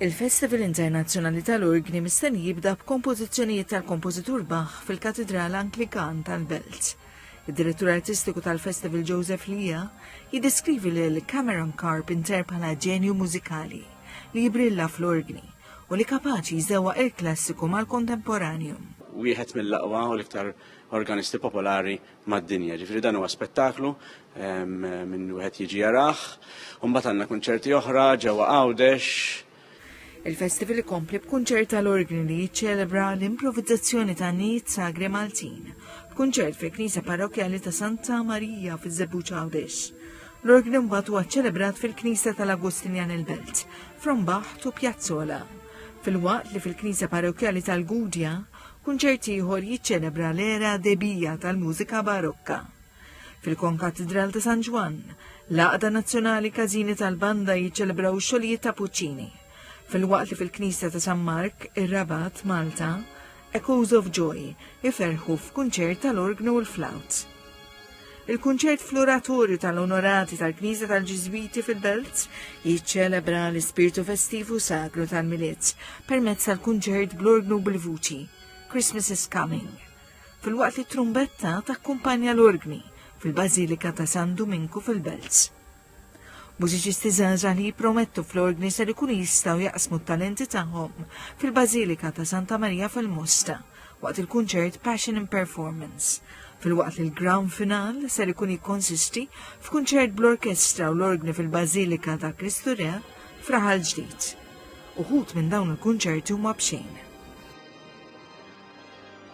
Il-Festival Internazzjonali tal-Urgni mistenni jibda b'kompożizzjonijiet tal-kompożitur Bach fil-Katidral Anglikan tal-Belt. Id-direttur artistiku tal-Festival Joseph Lia jiddeskrivi lil Cameron Carpenter bħala ġenju mużikali li jibrilla fl-urgni u li kapaċi jżewwa il-klassiku mal-kontemporanju. Wieħed mill-aqwa u l-iktar organisti popolari mad-dinja. Ġifri dan huwa spettaklu minn wieħed jiġi jarah. Umbagħad għandna kunċerti oħra ġewwa Għawdex. Il-festival ikompli b'kunċert tal-orgni li jiċċelebra l-improvizzazzjoni ta' nit sagri Maltin, b'kunċert fil-Knisja Parrokjali ta' Santa Marija fiż-Żebbuġ Għawdex. L-orgni mbagħad huwa ċċelebrat fil-Knisja tal-Agustinjan il-Belt, Frombaħt u Pjazzola fil-waqt li fil-Knisja Parrokjali tal-Gudja Kunċert ieħor jiċċelebra l-era debija tal-mużika barokka. Fil-Konkatidral ta' San Ġwann, l-Għaqda Nazzjonali Każini tal-Banda jiċċelebraw xogħlijiet ta' Puccini. Fil-waqt li fil-Knisja ta' San Mark, ir-Rabat, Malta, Echoes of Joy iferħu f'kunċert tal-orgnu u l-flawt. Il-kunċert fl-Oratorju tal-Onorati tal-Knisja tal-Ġiżwiti fil-Belt jiċċelebra l-ispirtu festiv u sagru tal-Milied permezz tal-kunċert bl-orgnu bil-vuċi Christmas is Coming. Filwaqt li t-trumbetta takkumpanja l-orgni fil-Bażilika ta' San Duminku fil-Belt. Mużiċisti żgħażagħ li jippromettu fl-ordni ser ikunu jistgħu jaqsmu t-talenti tagħhom fil-Bażilika ta' Santa Marija fil-Mosta waqt il-kunċert Passion in Performance filwaqt li l-grand final ser ikun jikkonsisti f'kunċert bl-orkestra u l-orgni fil-Bażilika ta' Kristu Re fraħal ġdid. Uħut minn dawn il-kunċerti huma b'xejn.